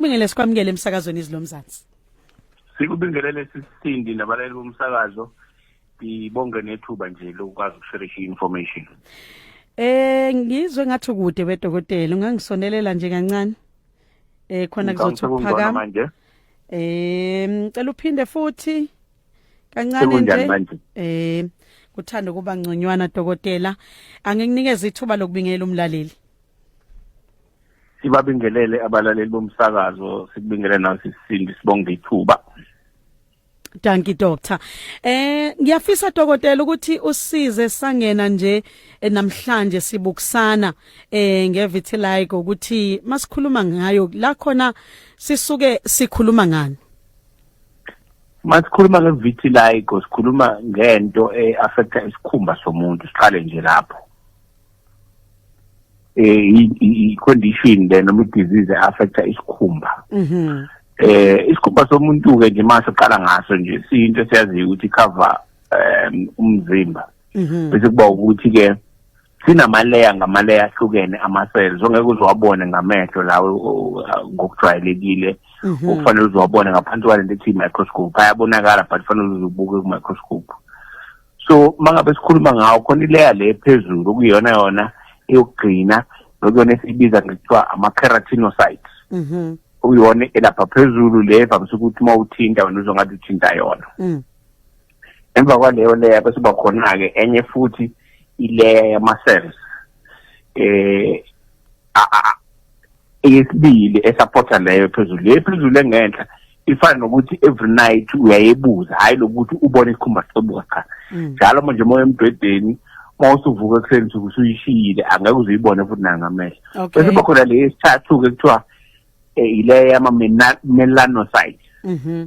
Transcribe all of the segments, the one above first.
Kubingele sikwamukele emsakazweni izilomzansi. Sikubingelele sisindi nabalali bomsakazo. Ngibonge nethuba nje lokwazi ukusherisha information. Eh ngizwe ngathi kude bedokotela ungangisonelela nje kancane. Eh khona kuzothi ukuphakama. Eh ngicela uphinde futhi kancane nje. Eh kuthanda ukuba ngconywana dokotela angikunikeza ithuba lokubingelela umlaleli. sibabingelele abalaleli bomsakazo sikubingelele nawe sisindi sibonge ithuba Dankie doctor. Eh ngiyafisa dokotela ukuthi usize sangena nje eh, namhlanje sibukusana eh ngevitiligo ukuthi masikhuluma ngayo la khona sisuke sikhuluma ngani. Masikhuluma ngevitiligo sikhuluma ngento eaffecta eh, isikhumba somuntu siqale nje lapho. eh i condition le noma disease affecta isikhumba mhm eh isikhumba somuntu ke nje mase uqala ngaso nje siyinto siyaziyo ukuthi cover um umzimba mhm bese kuba ukuthi ke sinamaleya ngamaleya ahlukene ama-cells ongeke uzowabone ngamehlo lawo ngokujwayelekile mhm. okufanele uzowabone ngaphansi kwalento ethi i-microscope ayabonakala but kufanele uzubuke ku-microscope so mangabe sikhuluma ngawo khona ileya le phezulu okuyona yona eyokugcina nokuyona esiyibiza ngekuthiwa ama-keratinocytes mhm. uyona elapha phezulu le vamise ukuthi uma uthinta wena uzongathi uthinta yona mm. emva kwaleyo leya bese uba khona-ke enye futhi ileya yama-cells eh eyesibili esupporta leyo phezulu le phezulu engenhla ifana nokuthi every night uyayebuza hayi lokuthi ubone isikhumba sibuka cha mm. njalo manje uma emdwedeni mawusuvuka ekuseni suku usuyishiyile angeke uzuyibone futhi nangamehlo bese kuba khona le esithathu-ke kuthiwa um ile yama-melanocyte mhm.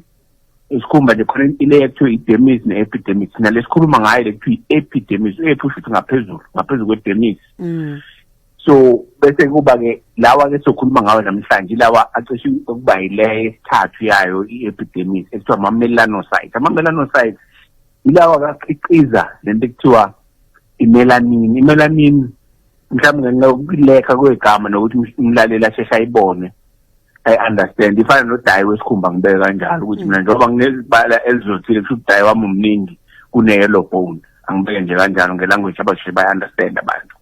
isikhumba nje khona ile ekuthiwa i-demis ne-epidemis nale sikhuluma ngayo le kuthiwa i-epidemis u-epi usho ukuthi ngaphezulu ngaphezulu kwe-demis mm. so bese kuba ke lawa ke sokhuluma ngawo namhlanje lawa acishe ukuba yileyo esithathu yayo i-epidemic ekuthiwa ama-melanocytes ama-melanocytes yilawa kakhiqiza lento ekuthiwa i-melanin i-melanin mhlawumbe ngenxa yokulekha kwegama nokuthi umlaleli asheshe ayibone ayi-understand ifana nodayi wesikhumba ngibeke kanjalo ukuthi mina njengoba nginezibala elizothile kusho ukuthi dayi wami omningi kune-yellow bone angibeke nje kanjalo ngelanguage abasheshe bayi-understand abantu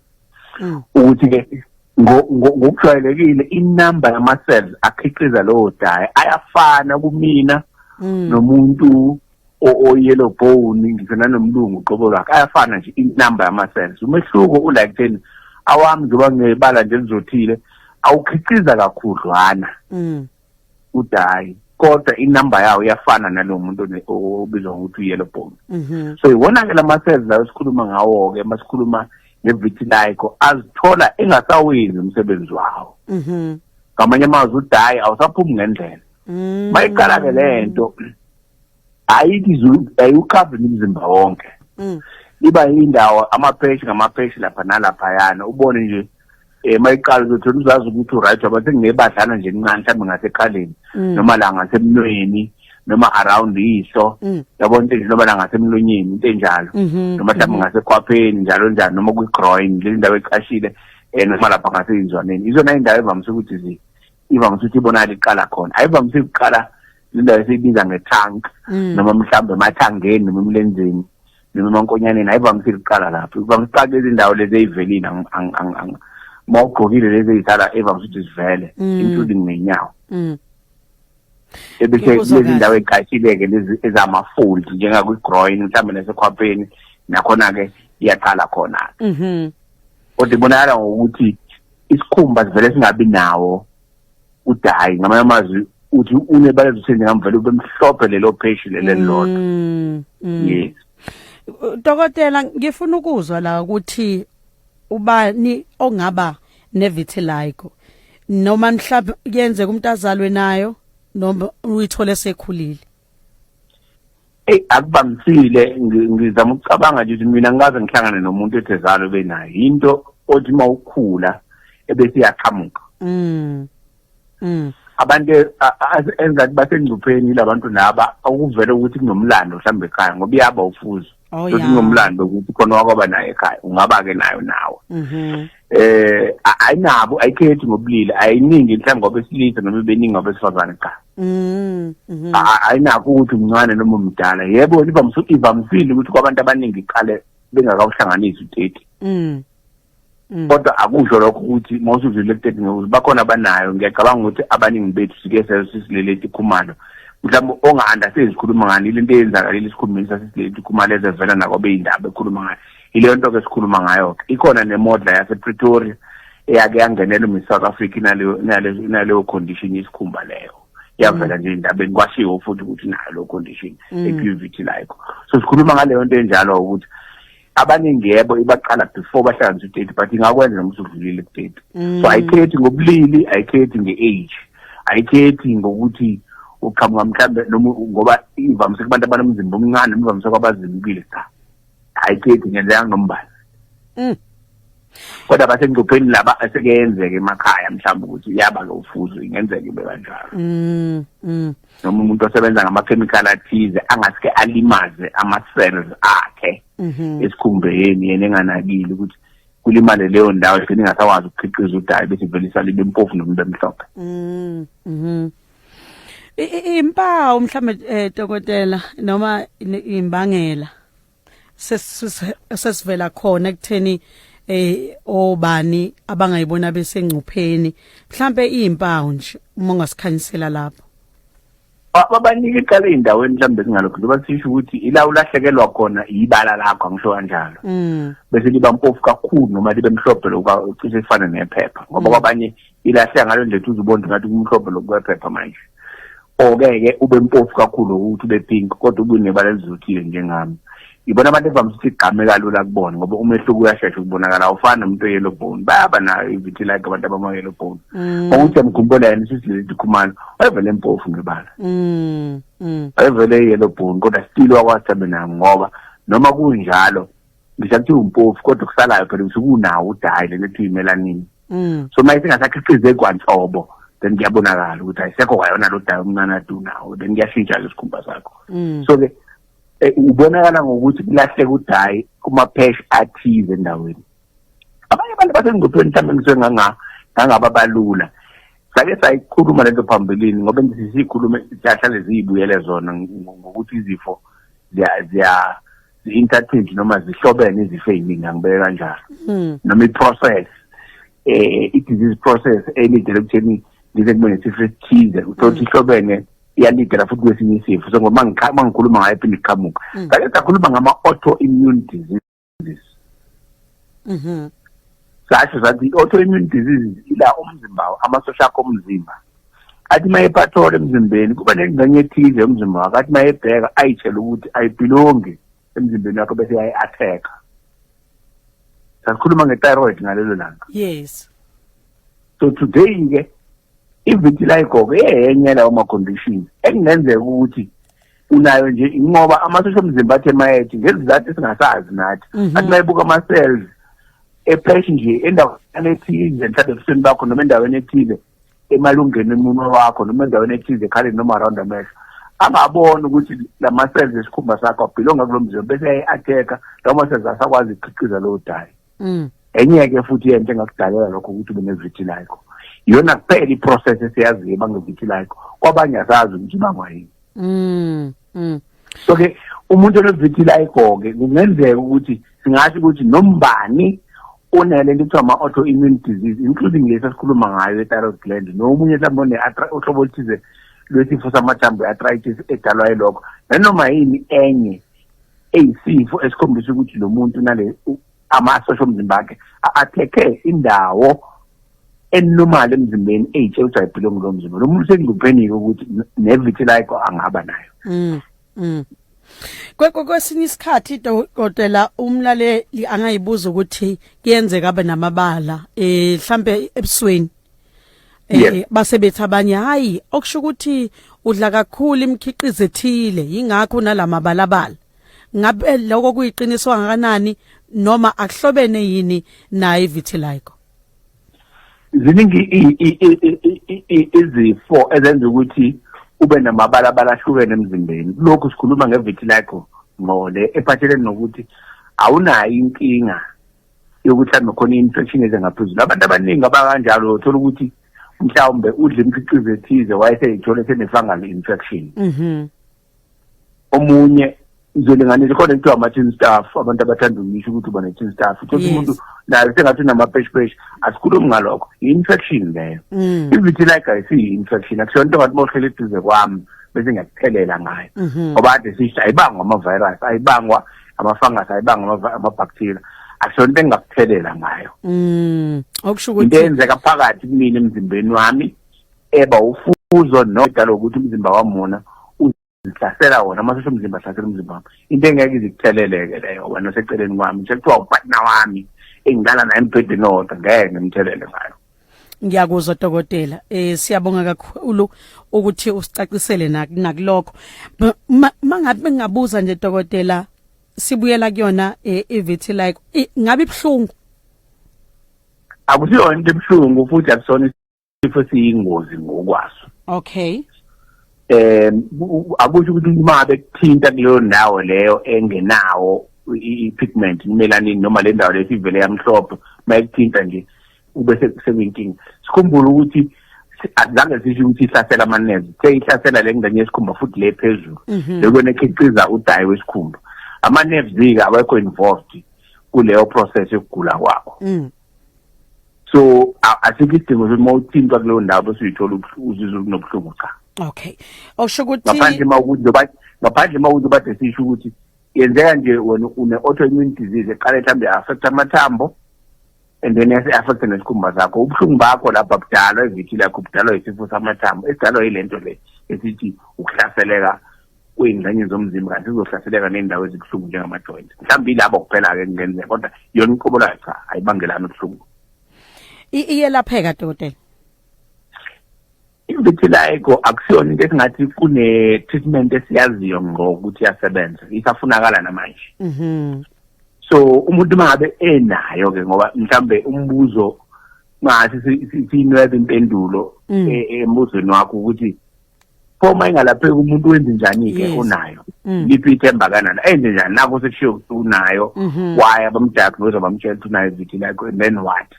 mm. ukuthi ke ngokujwayelekile inamba yama cells akhiqiza lowo dye ayafana kumina mm. nomuntu o yellow bone ngisho nanomlungu qobo lwakhe ayafana nje inamba yama cells umehluko u like then awami njengoba ngebala nje lizothile awukhiqiza kakhudlwana mm. uthi hayi kodwa inumber yawo iyafana nalo muntu obizwa ngokuthi u-yellow bone mhm. so iwona-ke la ma-cells lawo esikhuluma ngawo-ke uma sikhuluma ngevitiligo azithola engasawenzi umsebenzi wawo mhm. ngamanye amazwi udayi awusaphumi ngendlela mm. mayiqala-ke le nto ayithi zulu ayukhavi umzimba wonke mm. iba indawo amapheshi ngamapheshi lapha nalapha yana ubone nje eh mayiqala ukuthi uzazi ukuthi uright wabathe ngebadlana nje incane mhlawumbe ngasekhaleni mm. noma la ngasemnweni noma around iso mm. yabo into nje noma la ngasemlonyeni into enjalo mm-hmm. noma mhlawumbe mm-hmm. ngasekhwapheni njalo njalo noma kwi-groin le ndawo ecashile eh noma lapha ngaseyinzwaneni izona indawo evamise ukuthi ivamise ukuthi ibonakala iqala khona ayivamise ukuqala indawo esiyibiza nge-tank mm. noma mhlawumbe emathangeni noma emlenzeni noma emankonyaneni ayivamise ukuqala lapho ivamise ukuqala lezi ndawo lezi eyivelile uma ugqokile lezi eyisala evamise ukuthi zivele mm. including nenyawo mm. ebese lezi ndawo eziqashile-ke lezi ezama-fold njengakwi-groin mhlawumbe nasekhwapheni nakhona-ke iyaqala khona-ke mhm. kodwa ibonakala ngokuthi isikhumba sivele singabi nawo udayi ngamanye amazwi uthi unebala ezithende ngamvele ube mhlophe lelo pheshi lelelodwa mm, mm. yes dokotela ngifuna ukuzwa la ukuthi ubani ongaba nevitiligo noma mhlawumbe kuyenzeka umuntu azalwe nayo noma uyithole sekhulile Ey akubamisile ngizama ukucabanga nje ukuthi mina ngikaze ngihlangane nomuntu ethe zalo benayo into othi mawukhula ebese iyaqhamuka. Mm. Mm. Abantu engathi basengcupheni labantu laba okuvela ukuthi kunomlando mhlawumbe ekhaya ngoba iyaba ufuzo. Oh yeah. Ngomlando ukuthi khona wakwaba naye ekhaya ungaba ke nayo nawe. Mhm. Eh ayinabo ayikhethi ngobulili ayiningi mhlawumbe ngoba esilisa noma beningi ngoba esifazane cha. Mhm. mhm. Ayinako ukuthi umncane noma umdala. Yebo iba msuthi iba msile ukuthi kwabantu abaningi iqale bengakawuhlanganisi u30. Mhm. Mm. kodwa akusho lokho ukuthi uma usudlule ku-thirty ngokuthi bakhona abanayo ngiyacabanga ukuthi abaningi bethu sike sesilele itikhumalo mhlawumbe onga-understand sikhuluma ngani ile nto eyenzakalile esikhulumeni sasesilele itikhumalo ezevela nakwabeyindaba ekhuluma ngayo yileyo nto ke sikhuluma ngayo-ke ikhona nemodla yasepretoria eyake yangenela umiss south africa inaleyo condition yesikhumba leyo yavela mm. nje endabeni kwashiwo futhi ukuthi nayo leyo condition mm. eqivity like so sikhuluma ngaleyo nto enjalo ukuthi abaningi yebo ibaqala before bahlanganisa udate but ingakwenza noma usudlulile kudate mm. so ayikhethi ngobulili ayikhethi nge-age ayikhethi ngokuthi uqhamuka mhlawumbe noma ngoba ivamise kubantu abanomzimba omncane noma ivamise kwabazimbile cha ayikhethi ngenzeka ngombala mm. kodwa basengcupheni laba asekeyenzeke emakhaya mhlawumbe ukuthi uyaba lo ufuzo ingenzeka ibe kanjalo mm, mm. noma umuntu osebenza ngamakhemikhali athize angasike alimaze ama-cells akhe mhm. esikhumbeni yena enganakile ukuthi kulimale leyo ndawo igcine ingasakwazi ukukhiqiza udayi bese vele isalibe mpofu nomuntu emhlophe mm, mhm. impawu mhlawumbe um dokotela noma imbangela sesivela khona ekutheni eh obani abangayibona besengcupheni mhlambe izimpawu nje uma ungasikhanyisela lapho babanike iqala ezindaweni mhlambe singalokho loba sisho ukuthi ila ulahlekelwa khona ibala lakho angisho kanjalo mm. bese liba mpofu kakhulu noma libe mhlophe lokuba ucishe ifane nephepha ngoba mm. kwabanye ilahle ngalo nje uze ubone ngathi kumhlophe lokwephepha manje okeke ube mpofu kakhulu ukuthi ube pink kodwa ubunebala elizuthile njengami ibona abantu evamise ukuthi igqame kalula kubona ngoba umehluko uyashesha ukubonakala awufani nomuntu oyellow bone bayaba nayo ivithi like abantu abama-yellow bone mm. okuthi amkhumbula yena isisilezi khumalo wayevele mpofu ngebala mm, mm. wayevele i-yellow bone kodwa still wakwathi abe nayo ngoba noma kunjalo ngisho kuthiwa umpofu kodwa okusalayo phela ukuthi kunawo udayi lento ethi imelanini mm. so uma isingasakhiqize kwanhlobo then kuyabonakala ukuthi ayisekho kwayona lo dayi omncane adunawo then kuyashintsha ke isikhumba sakho mm. so ke eh, ubonakala ngokuthi kulahleka udayi kumaphesh athize endaweni abanye abantu basengcupheni mhlawumbe ngisenganga ngangaba balula sake sayikhuluma lento phambilini ngoba ngisikhulume siyahlale ziyibuyele zona ngokuthi izifo ziya zi-intertwined noma zihlobene izifo eziningi angibeke kanjalo hmm. noma i-process eh i-disease process elidele ukutheni ngize kube nesifo esithize uthole ukuthi hmm. ihlobene iyalidela futhi kwesinye isifo so ngoba ngikhuluma ngayo phinde iqhamuka hmm. sake sakhuluma ngama-auto immune diseases mhm sasho sathi i-autoimmune disease ila umzimba amasosha akho omzimba athi uma epathola emzimbeni kuba nengxenye ethize yomzimba wakho athi uma ebheka ayitshele ukuthi ayibhilongi emzimbeni wakho bese yayi-attack-a sasikhuluma nge-thyroid ngalelo langa yes so today-ke i-vitiligo eyenye lawo ma-conditions ekungenzeka ukuthi unayo nje inqoba amasosha omzimba athe mayethi ngezizathu esingasazi nathi mhm. athi mayebuka ama-cells epheshi nje endaweni ethize mhlawumbe ebusweni bakho noma endaweni ethize emalungeni emunwe wakho noma endaweni ethize ekhaleni noma around amehlo angaboni ukuthi la ma-cells esikhumba sakho abhilonga kulo mzimba bese ayi-atheka lawo ma-cells asakwazi ukukhiqiza lowo dayi mm. enye-ke futhi yento engakudalela lokho ukuthi ube nevitiliko iyona kuphela iprocess esiyaziyo ebangevitiliko kwabanye asazi ukuthi ibangwa yini mm, mm. so-ke umuntu onevitiliko-ke kungenzeka ukuthi singasho ukuthi nombani unele into kuthiwa ama-auto immune disease including lesi esikhuluma ngayo ethyroid gland nomunye mhlawumbe uhlobo oluthize lwesifo samathambo i-arthritis edalwa yilokho nanoma yini enye eyisifo esikhombisa ukuthi lo muntu nale amasosha omzimba wakhe athekhe indawo enormal emzimbeni eyithi ejayibhile ngulo mzimba lo muntu sekunguphenike ukuthi nevitiligo angaba nayo mm, mm. kwesinye isikhathi dokotela umlaleli angayibuza ukuthi kuyenzeka abe namabala eh mhlambe ebusweni eh, Yes. eh, base bethi abanye hayi okusho ukuthi udla kakhulu imikhiqizo ethile yingakho nalamabalabala ngabe lokho kuyiqiniso kangakanani noma akuhlobene yini naye vitiligo ziningi i- i- i- i- i- i- izifo ezenza ukuthi ube namabalabala ahlukene emzimbeni kulokhu sikhuluma ngevitiligo ngqole ephathelene nokuthi awunayo inkinga yokuthi hlambe khona i-infection eze ngaphezulu abantu abaningi abakanjalo thola ukuthi mhlawumbe udle imkhiqizo ethize wayeseyithole sene-fungal infection mhm. omunye ngizolinganisa khona kuthiwa ama-tin staff abantu abathanda ukuyisho ukuthi uba ne-tin staff uthole umuntu naye sengathi unamapeshpesh asikhulumi ngalokho yi-infection leyo mm. ivitiliga isiyi-infection akusona into ngathi mohlele eduze kwami bese ngiyakuthelela ngayo mhm. ngoba ade sisho ayibangwa ama-virus ayibangwa amafangasi ayibanga amabhakthiriya akusho into engingakuthelela ngayo mm okusho ukuthi into eyenzeka phakathi kumina emzimbeni wami eba ufuzo nodala ukuthi umzimba wamona uzihlasela wona amasosha omzimba ahlasela umzimba wami into engeke izikutheleleke leyo wena oseceleni kwami sekuthiwa upartner wami engilala naye embhedeni owodwa ngeke ngimthelele ngayo ngiyakuzwa dokotela eh siyabonga kakhulu ukuthi usicacisele nakulokho mangabe ngabuza nje dokotela sibuyela kuyona eh, ivithi like ngabe ibhlungu akusiyona into ebhlungu futhi akusona isifo siyingozi ngokwaso okay eh akusho ukuthi uma bekuthinta kuleyo ndawo leyo engenawo i-pigment imelanini noma le ndawo lesivele yamhlophe mayikuthinta nje kube sekuyinkinga sikhumbule ukuthi azange sisho ukuthi ihlasela amanezi seyihlasela le ngane yesikhumba futhi le phezulu mhm. lekwena ekhiqiza udayi wesikhumba ama-nerves-ke awekho involved kuleyo process yokugula kwakho mm. so asikho isidingo sokuthi uma uthintwa kuleyo ndawo bese uyithola uzizwa kunobuhlungu cha okay osho ukuthi ngaphandle uma ukuthi ngaphandle uma ukuthi bade sisho ukuthi yenzeka nje wena une-autoimmune disease eqale mhlawumbe affect amathambo and then yase-affecte nesikhumba sakho ubuhlungu bakho lapha budalwa ivithi lakho budalwa yisifo samathambo esidalwa yile nto le esithi ukuhlaseleka kwey'ngxenye zomzimba kanti sizohlaseleka ney'ndawo ezibuhlungu njengama-joint mhlawumbe yilabo kuphela-ke kungenzeka kodwa yona inkobo layo cha ayibangelani ubuhlungu iyelapheka dokotela Vitiligo akusiyona into esingathi kune treatment esiyaziyo ngqo ukuthi yasebenza isafunakala namanje mhm so umuntu mangabe enayo ke ngoba mhlambe umbuzo ngathi sinwebe impendulo mm. e, e, embuzweni wakho ukuthi pho uma ingalapheki umuntu wenze njani ke unayo mm. liphi ithemba kanana enze njani nakho sekushiyo ukuthi unayo mhm. why abamdiagnose bamtshela ukuthi unayo vitiligo and then what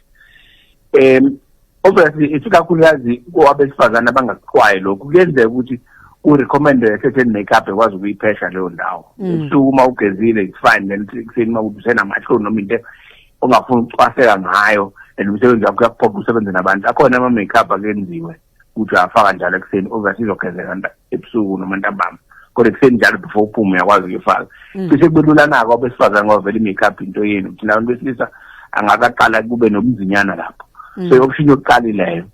um obviously isikakhulukazi kwabesifazane abangakuqwayi lokhu kuyenzeka ukuthi ku-recommende a certain makeup ekwazi ukuyiphesha leyo ndawo mm. usuku uma ugezile it's fine then ekuseni uma usenamahloni noma into ongafuni ukucwaseka ngayo and umsebenzi wakho uyakuphoqa usebenze nabantu akhona ama-makeup akenziwe ukuthi uyafaka njalo ekuseni obviously izogezeka ebusuku noma ntambama kodwa ekuseni njalo before uphume uyakwazi ukuyifaka mm. cishe kubelulana-ke abesifazane ngoba vele i-make up into yenu ukuthi nabantu besilisa angakaqala kube nobunzinyana lapho mm. so i-option yokuqala ileyo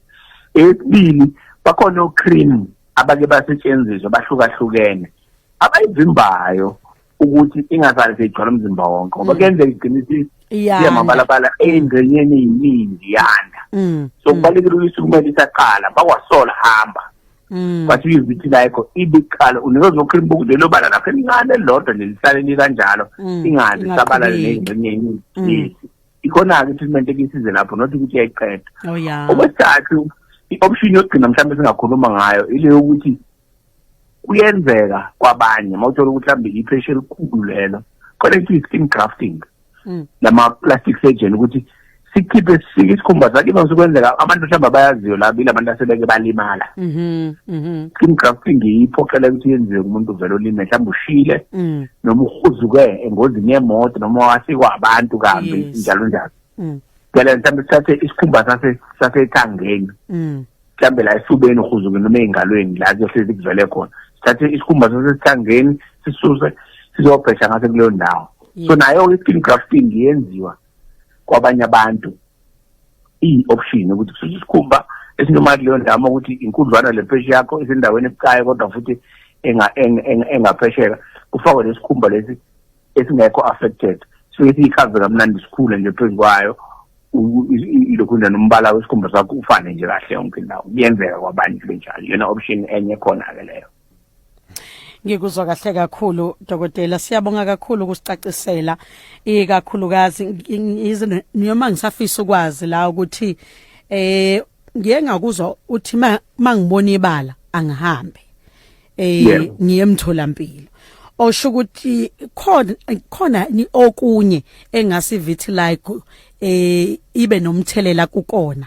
eyesibili bakhona o-cream abake basetshenziswa bahlukahlukene abayivimbayo ukuthi ingazali seyigcwala umzimba wonke ngoba mm. kuyenzeka igcina isiyamabalabala eyingxenyeni eyiningi yanda mm. so mm. kubalulekile ukuthi kumele isaqala bakwasola hamba kwathi uyizithi layikho ibiqala unikezwa ukhuluma ukuthi lelo bala lapho elincane lodwa nelisale likanjalo ingazi sabalale neyingxenye eyiningi ikhona-ke treatment ekisize lapho not ukuthi yayiqeda oh, okwesithathu i-option yokugcina mhlawumbe singakhuluma ngayo ile yokuthi kuyenzeka kwabanye mawuthola ukuthi mhlambe ipressure elikhulu lelo khona ithi skin grafting mm. lama plastic surgeon ukuthi sikhiphe sisike isikhumba sakhe iba sokwenzeka abantu mhlawumbe abayaziyo la bile abantu asebeke balimala mhm mhm skin grafting iphoqela ukuthi yenziwe umuntu vele olime mhlawumbe ushile mm. noma uhuzuke engozini yemoto noma wasikwa abantu kambi njalo njalo mm. ngale mhlawumbe sithathe isikhumba sase sasethangeni mm. mhlawumbe la esifubeni uhuzukeni noma ey'ngalweni la kuyohlezi kuvele khona sithathe isikhumba sasesithangeni sisuse sizobhesha ngase kuleyo ndawo so nayo-ke i-skin grafting yenziwa kwabanye abantu iyi-option ukuthi kususe isikhumba esinomali leyo ndawo uma ukuthi inkudlwana le pheshe yakho isendaweni ebucayi kodwa futhi engaphesheka kufakwe lesikhumba lesi esingekho affected so esiyichaze kamnandi sikhule nje phezu kwayo ilokhu nje nombala wesikhumba sakho ufane nje kahle yonke indawo kuyenzeka kwabanye benjalo yona option enye khona-ke leyo ngikuzwa kahle kakhulu dokotela siyabonga kakhulu ukusicacisela ikakhulukazi noma ngisafisa ukwazi la ukuthi eh ngiye ngakuzwa uthi mangibona ibala angihambe eh ngiyemtholampilo osho ukuthi khona khona okunye engasi vitiligo eh ibe nomthelela kukona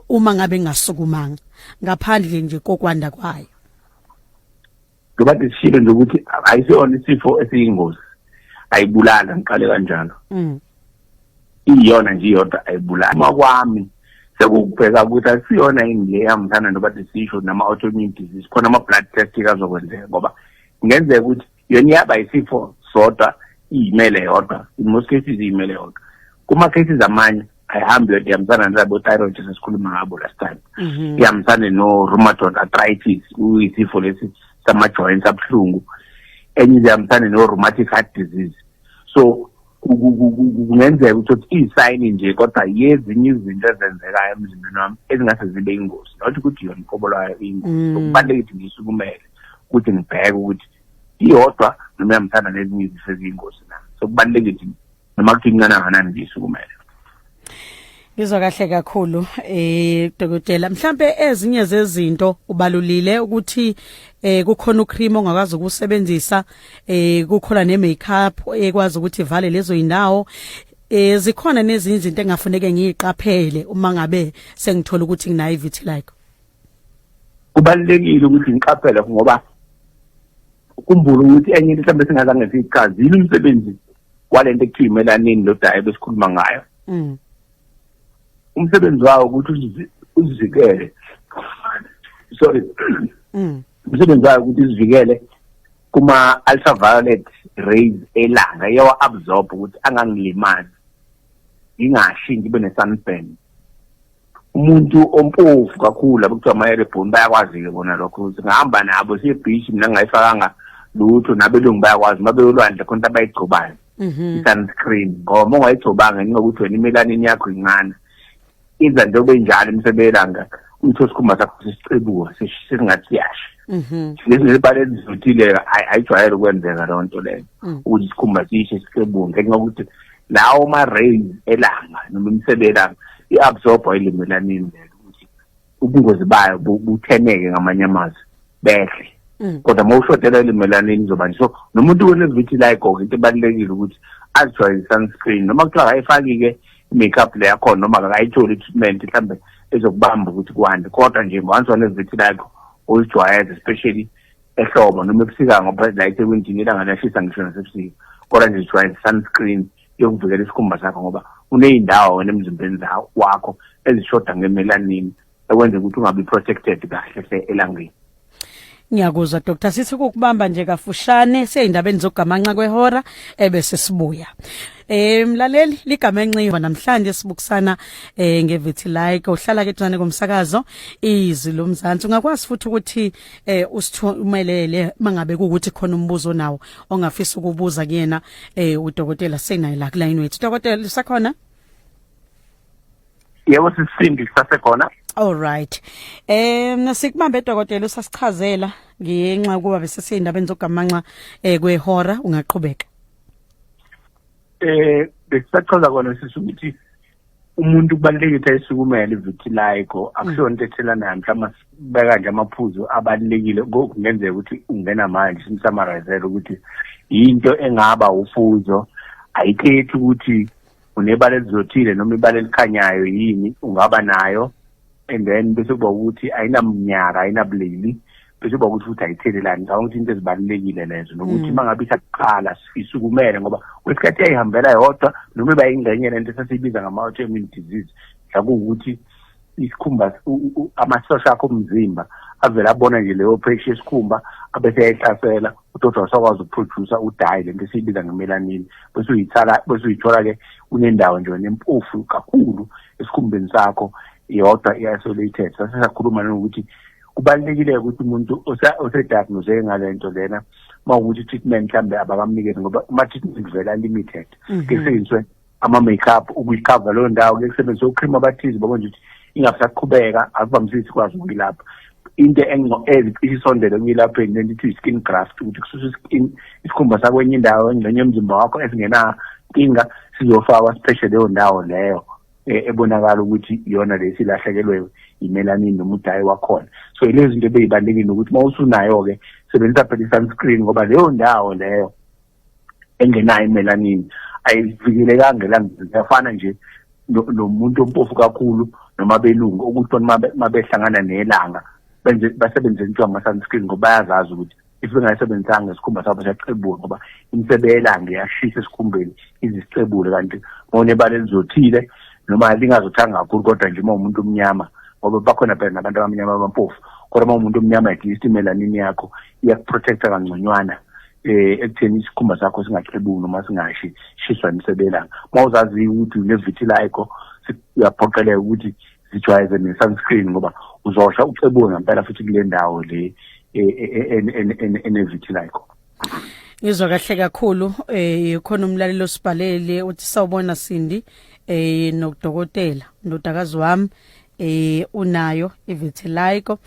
uma ngabe ngasukumanga ngaphandle nje kokwanda kwayo ngoba sishilo nje ukuthi ayisona isifo esiyingozi ayibulala ngiqale kanjalo mm. iyona nje iyodwa ayibulali uma kwami sekukubheka ukuthi akusiyona yini le yamthanda noba disisho nama-autoimmune disease khona ama-blood test kazokwenzeka ngoba kungenzeka ukuthi yona iyaba yisifo sodwa iyimele yodwa in most cases iyimele yodwa kuma-cases amanye ayihambi yodwa ihambisana nalabo-thyroid sesikhuluma ngabo last time mhm. ihambisane no-rheumatod arthritis uyisifo lesi sama-joints abuhlungu enye izihambisane no-rheumatic heart disease so kungenzeka ukuthi uthi iyisayini nje kodwa yezinye izinto ezenzekayo emzimbeni wami ezingase zibe ingozi not ukuthi yona inkobo lwayo iyingozi mm. okubalulekile ukuthi ngiyisukumele ukuthi ngibheke ukuthi iyodwa noma iyamthanda nezinye izifo eziyingozi na so kubalulekile ukuthi noma kuthi incane kangakanani ngiyisukumele Ngizwa kahle kakhulu eh dokotela mhlambe ezinye zezinto ubalulile ukuthi eh kukhona ucream ongakwazi ukusebenzisa eh kukhona ne makeup ekwazi ukuthi ivale lezo indawo eh zikhona nezinye izinto engafuneke ngiyiqaphele uma ngabe sengithola ukuthi nginayo vitiligo kubalulekile ukuthi ngiqaphele ngoba ukhumbula ukuthi enye into mhlawumbe singazange siyichazile umsebenzi walento ekuthiwa imelanini lodayi besikhuluma ngayo mm. umsebenzi wawo ukuthi uzivikele sorry mm. umsebenzi wayo ukuthi izivikele kuma ultraviolet rays elanga yawa absorb ukuthi angangilimazi ngingashi ngibe ne sunburn umuntu ompofu kakhulu labo kuthiwa amayerebhoni bayakwazi-ke bona lokho ukuthi ngihamba nabo siye beach mina ngingayifakanga lutho nabelungu bayakwazi uma beyolwandle khona into abayigcobayo mhm. i-sunscreen ngoba uma ungayigcobanga njengokuthi wena imelanini yakho incane iza njengoba injalo imsebelanga utho sikhumba sakho sisicebuka singathi siyasha mhm. ngezinebala ezizothile ayijwayele ukwenzeka loo nto leyo mm. ukuthi isikhumba sishe sicebuke ngenxa yokuthi lawo ma-rain elanga noma imisebe elanga i-absorba ilimi elanini lelo ukuthi ubungozi bayo butheneke ngamanye amazwi behle mm. kodwa uma ushodela ilimi elanini izoba nje so nomuntu wenevithi layigoke into ebalulekile ukuthi azijwayele i-sunscreen noma kuthiwa akayifaki-ke i-makeup le yakhona noma akayitholi i-treatment mhlawumbe ezokubamba ukuthi kwande kodwa nje once wanevithi lakho uzijwayeze especially ehlobo noma ebusika ngoba la eThekwini ilanga liyashisa ngisho nasebusika kodwa nje jwayele sunscreen yokuvikela isikhumba sakho ngoba kuney'ndawo wena emzimbeni wakho ezishoda ngemelanin ekwenza ukuthi ungabi protected kahle hle elangeni ngiyakuzwa doctor sithi kukubamba nje kafushane seyindabeni zokugamanxa kwehora ebese sibuya Eh mlaleli ligama enxiwa namhlanje sibukusana eh ngevitiligo uhlala ke duzane komsakazo izwi lomzansi ungakwazi futhi ukuthi eh usithumelele mangabe ukuthi khona umbuzo nawo ongafisa ukubuza kuyena eh udokotela senayi la kulayini wethu dokotela usakhona Yebo sisindi sasekhona All right. Eh nasikubambe dokotela usasichazela ngenxa kuba bese seyindabeni zogamanxa eh kwehora ungaqhubeka. Eh bekusachaza kona sisukuthi umuntu kubalulekile ukuthi ayisukumele ivitiligo akusiyona into ethelanayo mhlawumbe sibeka nje amaphuzu abalulekile kungenzeka ukuthi ungena manje simsamarizele ukuthi yinto engaba ufuzo ayikhethi ukuthi unebala elizothile noma ibala elikhanyayo yini ungaba nayo and then bese kuba ukuthi ayinamnyaka ayinabulili bese kuba ukuthi futhi ayithelelani ngicabanga ukuthi into ezibalulekile lezo nokuthi hmm. uma ngabe isaqala sisukumele ngoba kwesikhathi yayihambela yodwa noma iba yingxenye lento esasiyibiza ngama-autoimmune disease mhlakuwukuthi isikhumba amasosha akho omzimba avele abona nje leyo phesha esikhumba abese yayihlasela udoti wasakwazi ukuproducer udayi lento esiyibiza ngemelanin bese uyithala bese uyithola ke unendawo nje wena empofu kakhulu esikhumbeni sakho yodwa i-isolated sase sakhuluma nokuthi kubalulekile ukuthi umuntu osediagnoseke ngale nto lena uma ukuthi i-treatment mhlawumbe abakamnikezi ngoba ama-treatment vele a-limited mhm. ke seyiswe ama-makeup ukuyikhava leyo ndawo kuye kusebenzisa ucream abathize babona nje ukuthi ingasaqhubeka akuvamisisi ikwazi ukuyilapha into isondele kuyelapheni lento ithi i-skin graft ukuthi kususa i-skin isikhumba sakwenye indawo engxenye yomzimba wakho esingenankinga sizofakwa sipheshe leyo ndawo leyo e, ebonakala ukuthi iyona le silahlekelwe yimelanini noma udayi wakhona so ilezi zinto ebeyibalulekile ukuthi uma usunayo-ke sebenzisa phela i-sunscreen ngoba leyo ndawo leyo engenayo imelanin ayivikelekanga elangeni yafana nje nomuntu ompofu kakhulu noma belungu ukuthi uma behlangana nelanga benze basebenzise into ama-sunscreen ngoba bayazazi ukuthi if bengayisebenzisanga isikhumba sabo siyacebula ngoba imisebe yelanga iyashisa esikhumbeni izisicebule kanti ngonebala elizothile noma lingazothanga kakhulu kodwa nje uma umuntu omnyama ngoba bakhona phela nabantu abamnyama abampofu kodwa uma umuntu omnyama at least imelanin yakho iyakuprotecta kangconywana eh ekutheni isikhumba sakho singaxebuki noma singashi shiswa emsebelanga mawuzazi ukuthi unevitiligo uyaphoqeleka ukuthi zijwayeze ne sunscreen ngoba uzosha uxebuke ngempela futhi kule ndawo le e, e, e, enevitiligo ngizwa kahle kakhulu eh khona umlaleli osibhalele uthi sawubona Sindi eh nokudokotela ndodakazi wami eh unayo ivitiligo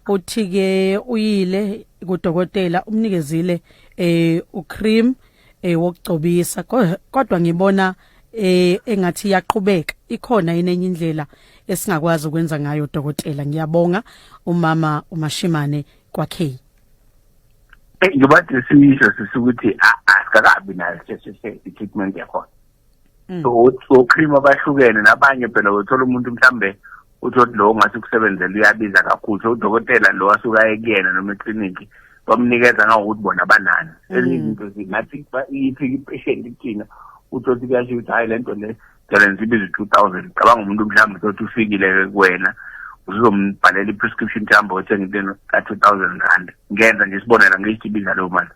uthi ke uyile kudokotela umnikezile eh ucream eh wokugcobisa kodwa ngibona eh engathi iyaqhubeka ikhona yini enye indlela esingakwazi ukwenza ngayo dokotela ngiyabonga umama umashimane kwakhe ngibathi sisho sisukuthi asikakabi nayo i-treatment yakhona Mm. so ocream abahlukene nabanye phela uthola umuntu mhlambe uthoti lowo ngathi ukusebenzela uyabiza kakhulu so udokotela lo asuka ekuyena noma eclinic bamnikeza ngawokuthi bona banani mm. ezinye izinto zingathi iphi ipatient kuthina uthoti kuyasho ukuthi hhayi le nto le jalenza ibiza i-two thousand cabanga umuntu mhlawumbe uthoti ufikile kuwena uzombhalela i-prescription mhlawumbe othenga into ka-two thousand rand ngenza nje isibonelo ngiyisibiza leyo mali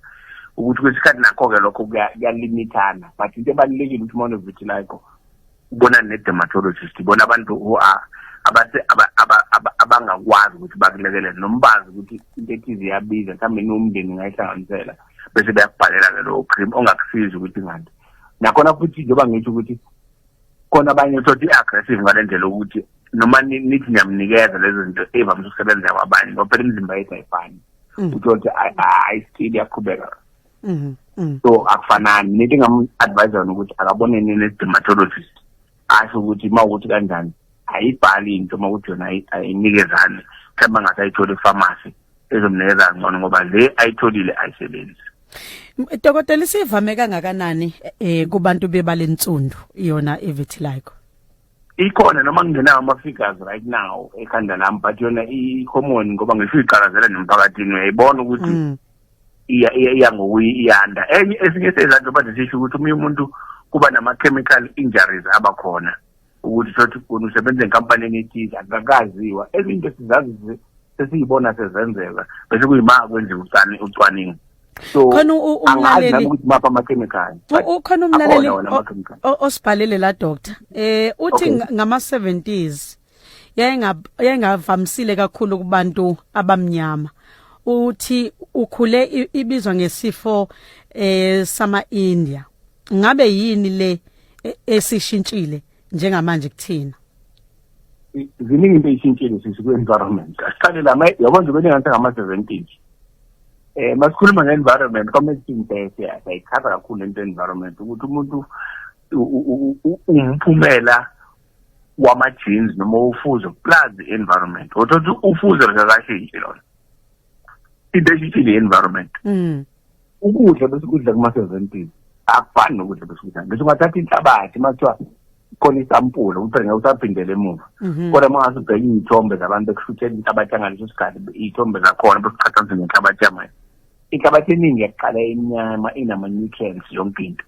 ukuthi kwesikhathi nakho-ke lokho kuyalimithana but into ebalulekile ukuthi uma unovitiligo ubona ne-dermatologist ibona abantu who are abangakwazi ukuthi bakulekelele noma bazi ukuthi into ethize iyabiza mhlawumbe niwumndeni ngayihlanganisela bese beyakubhalela-ke lowo cream ongakusizi ukuthi ngani nakhona futhi njengoba ngisho ukuthi khona abanye uthotha i-aggressive ngale ndlela ukuthi noma nithi niyamnikeza lezo zinto evamise ukusebenza kwabanye ngoba phela imizimba yethu ayifani mm. uthole ukuthi ayisili yaqhubeka mm-hmm, mm. so akufanani nento engam-advise yona ukuthi akaboneni ne-dermatologist asho ukuthi uma ukuthi kanjani ayibhali into uma ukuthi yona ayinikezani mhlawumbe angase ayithole efamasi ezomnikeza ngcono ngoba le ayitholile ayisebenzi Dokotela isivame kangakanani eh kubantu bebalensundu yona ivitiligo ikhona noma kungenawo ama-figures right now ekhanda lami but yona i-common ngoba ngisho iqalazela nemphakathini uyayibona ukuthi mm. iya iya ngokuyi iyanda enye esinye sezanto bathi sisho ukuthi omunye umuntu kuba nama-chemical injuries abakhona ukuthi thothi uguni usebenza enkampanini ethize akakaziwa ezinye into sizazi sesiyibona sezenzeka bese kuyima kwenziwa ucwaningo so khona umlaleli ukuthi mapha amakhemikhali ukhona umlaleli osibhalele la doctor eh uthi ngama 70s yayingavamisile kakhulu kubantu abamnyama uthi ukhule ibizwa ngesifo eh sama India ngabe yini le e-, esishintshile njengamanje kuthina ziningi into eyishintshile sisi kwi-environment asiqale la yabona nje kwenye ngathi ngama-seventies eh masikhuluma nge-environment kwamele sintese yayikhava kakhulu lento environment ukuthi umuntu umphumela wama-jeans noma ufuzo plus i-environment othothi ufuzo likakashintshe lona into eshishile i-environment mm. ukudla besikudla kuma-seventies akufani nokudla besikudla ngisho ungathatha inhlabathi uma kuthiwa khona isampula uphele ngeke usaphindele emuva mhm. kodwa uma ngase ubheke iy'thombe zabantu ekushuthela inhlabathi yangaleso sikhathi iy'thombe zakhona bekuqhathanise nenhlabathi yamanje inhlabathi eningi yaqala enyama inama-nutrients yonke into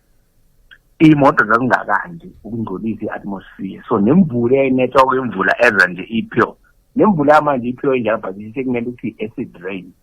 iy'moto zazingakandi ukungcolisa i-atmosphere so nemvula eyayinethwa kwemvula eza nje i-pure nemvula yamanje iphiwe njalo but sekumele ukuthi i-acid rain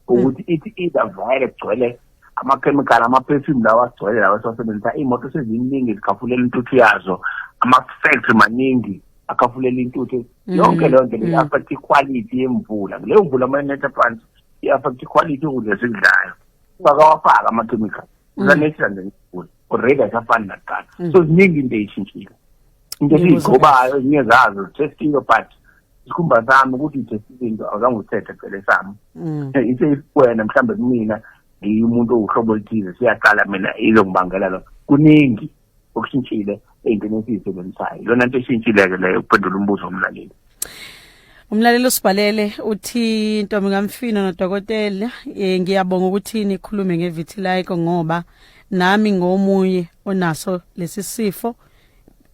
ukuthi hmm. ithi izavayele kugcwele amakhemikhali amaperfume lawa agcwele lawa esiwasebenzisa iy'moto seziningi zikhafulela intuthu yazo ama-factory maningi akhafulela intuthu hmm. yonke leyo nto leyo hmm. affect iquality yemvula leyo mvula amanetha phansi i-affect iquality yokudla esikudlayo ungakawafaki amakhemikhali usanexa nje ngigula already asafani nakuqala mm. so ziningi into eyishintshile into esiyigcobayo ezinye zazo zithestile but isikhumba sami ukuthi ngithestile into awuzange uthethe phele sami mm. iseyikuwena mhlawumbe kumina ngiwumuntu owuhlobo oluthize siyaqala mina ilongibangela lo kuningi okushintshile eyintweni esiyisebenzisayo lona nto eshintshile-ke leyo ukuphendula umbuzo womlaleli umlaleli usibhalele uthi ntombi kamfino nodokotela um ngiyabonga ukuthi nikhulume ngevitiligo ngoba nami ngomunye onaso lesi sifo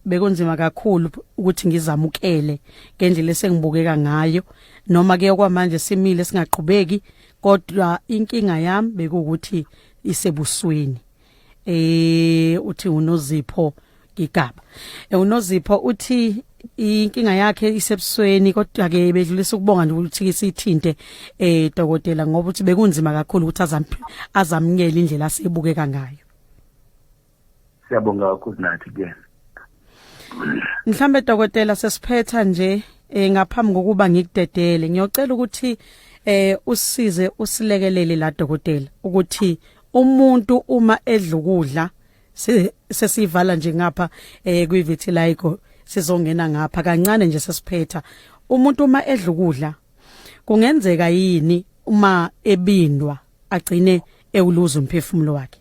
bekunzima kakhulu ukuthi ngizamukele ngendlela esengibukeka ngayo noma ke okwamanje simile singaqhubeki kodwa inkinga yami bekuwukuthi isebusweni eh uthi unozipho igaba eh, unozipho uthi inkinga yakhe isebusweni kodwa ke bedlulisa ukubonga nje ukuthi sithinte eh dokotela ngoba uthi bekunzima kakhulu ukuthi azamnyele indlela asibukeka ngayo siyabonga ukuthi nathi ke mhlambe dokotela sesiphetha nje eh ngaphambi kokuba ngikudedele ngiyocela ukuthi eh usize usilekelele la dokotela ukuthi umuntu uma edla ukudla sesivala nje ngapha eh kwi vitiligo sizongena ngapha kancane nje sesiphetha umuntu uma edla ukudla kungenzeka yini uma ebindwa agcine ewuluza umphefumulo wakhe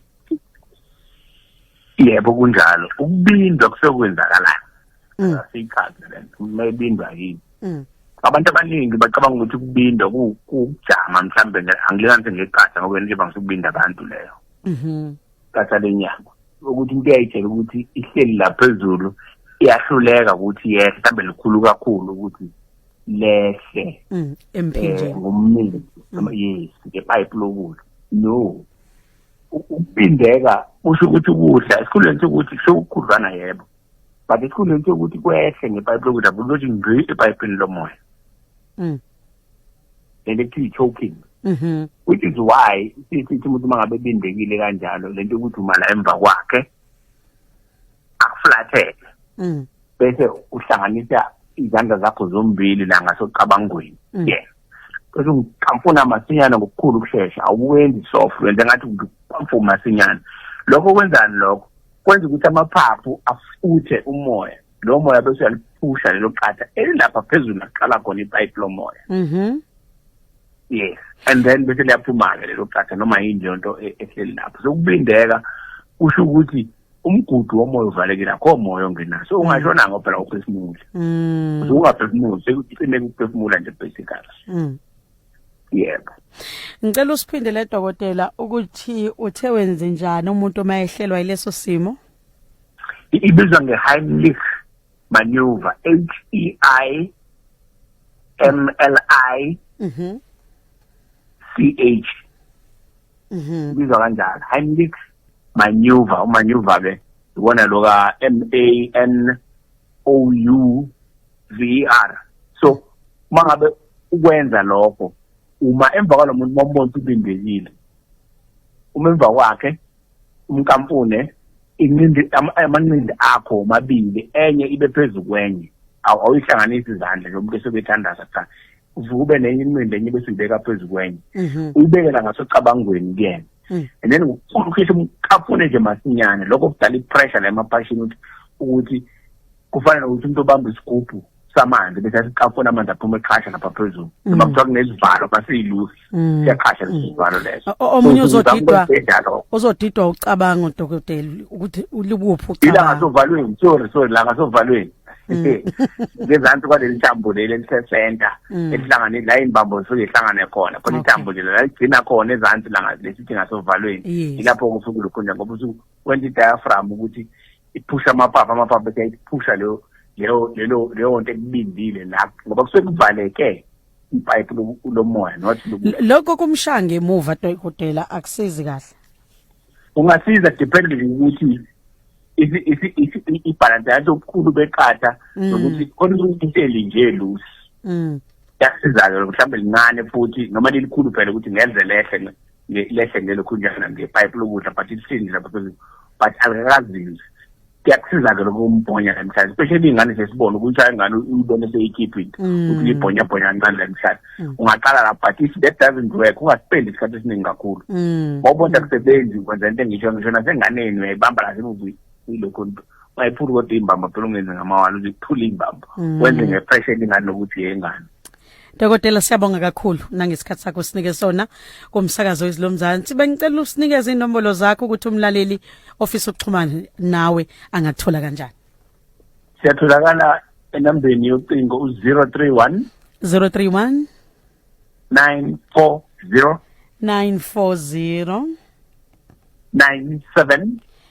yebo kunjalo ukubindwa kusekwenzakalayo mm. siyichaze lento umebindwa yini mm. abantu abaningi bacabanga ukuthi ukubindwa kujama mhlambe angilekanise ngeqatha ngoba nje bangisukubinda abantu leyo mhm qatha lenyanga ukuthi into yayitshela ukuthi ihleli laphezulu iyahluleka ukuthi yehle mhlambe likhulu kakhulu ukuthi lehle mm, emphinjeni eh, ngomnini mm. yes ngepipe lokudla no ukubindeka kusho ukuthi ukudla esikhundleni sokuthi sewukhudlwana yebo but esikhundleni sokuthi kwehle ngepayipi lokudla kulothi ngqi epayipini lomoya mm. lento ekuthiwa i-choking mm-hmm. which is why sithi umuntu uma ngabe ebindekile kanjalo lento yokuthi umala emva kwakhe akuflathele mm. bese uhlanganisa izandla zakho zombili la ngasocabangweni mm. yeah bese uqhamfuna masinyana ngokukhulu ukushesha awuwenzi soft wenza ngathi uqhamfuna masinyana lokho kwenzani lokho kwenza ukuthi amaphaphu afuthe umoya lo moya bese uyaliphusha lelo qatha elilapha phezulu naqala khona ipayipi lomoya mhm yes and then bese liyaphuma-ke lelo qatha noma yini leyo nto e-, ehleli lapho so kubindeka kusho ukuthi umgudu womoya uvalekile akho moya ongenayo so ungashona ngo phela uphefumula mm. so ungaphefumuli sekucime ukuphefumula nje basically mm. yebo ngicela usiphindele dokotela ukuthi uthe wenze njani umuntu uma ehlelwa yileso simo ibizwa nge-heimlich maneuver h e i m l i mhm c h mhm bizwa kanjalo heimlich maneuver umaneuver ke ubona lo ka m a n o u v e r so mangabe ukwenza lokho uma emva kwalomuntu momuntu ubindekile uma emva kwakhe umkampune inqindi amanqindi akho omabili enye ibe phezulu kwenye awuyihlanganisi izandla njengomuntu esebethandaza cha uvube nenye inqindi enye bese uyibeka phezulu kwenye mhm. uyibekela ngasocabangweni kuyena mm. and then ukhishwa umkampune nje masinyane lokho kudala i-pressure la emaphashini ukuthi kufanele ukuthi umuntu obamba isigubhu samanzi bese asiqafuna amanzi aphuma eqhasha lapha phezulu mm. noma kuthiwa kunezivalo basiyilusi mm. siyaqhasha lesivalo mm. leso omunye uzodidwa uzodidwa ucabanga udokotela ukuthi ulikuphi ucabanga ila ngasovalweni sorry sorry la ngasovalweni ngezansi kwaleli thambo leli elisesenta esihlangane la imbambo zisuke ihlangane khona khona ithambo nje la ligcina khona ezansi la lesithi ngasovalweni ilapho kusuke lukhona ngoba usuke wenza i-diaphragm ukuthi iphusha amapapa amapapa eyayiphusha leyo leyo lelo leyo nto ekubindile la ngoba kusuke kuvaleke ipipe lomoya not lokho kumshanga emuva dokotela akusizi kahle ungasiza depending ukuthi ibhalansi yathi obukhulu beqatha mm. nokuthi khona into elinje loose mm. yasiza-ke mhlawumbe lincane futhi noma lilikhulu phela ukuthi ngenze lehle lehle ngelo khunjana ngepipe lokudla but isindi lapha phezulu but alikakazinzi kuyakusiza-ke lokho umbhonya la mhlanje especially iy'ngane sesibona ukuthi ayingane uyibone seyikhiphile mm. ukuthi libhonyabhonya kancane la mhlanje mm. ungaqala lapho but if that doesn't work ungaspendi isikhathi esiningi kakhulu mm. mawubona kusebenzi kwenza into engisho ngisho nasenganeni uyayibamba lasemuvini ilokho nto wayephula kodwa imbamba phela ungenze ngamawala ukuthi kuphula imbamba mm. wenze ngepressure elingani lokuthi yengane Dokotela siyabonga kakhulu nangesikhathi sakho sinike sona kumsakazo izilomzansi bengicela usinikeze inombolo zakho ukuthi umlaleli ofisa ukuxhumana nawe angathola kanjani Siyatholakala enambeni yocingo u031 031 940 940 97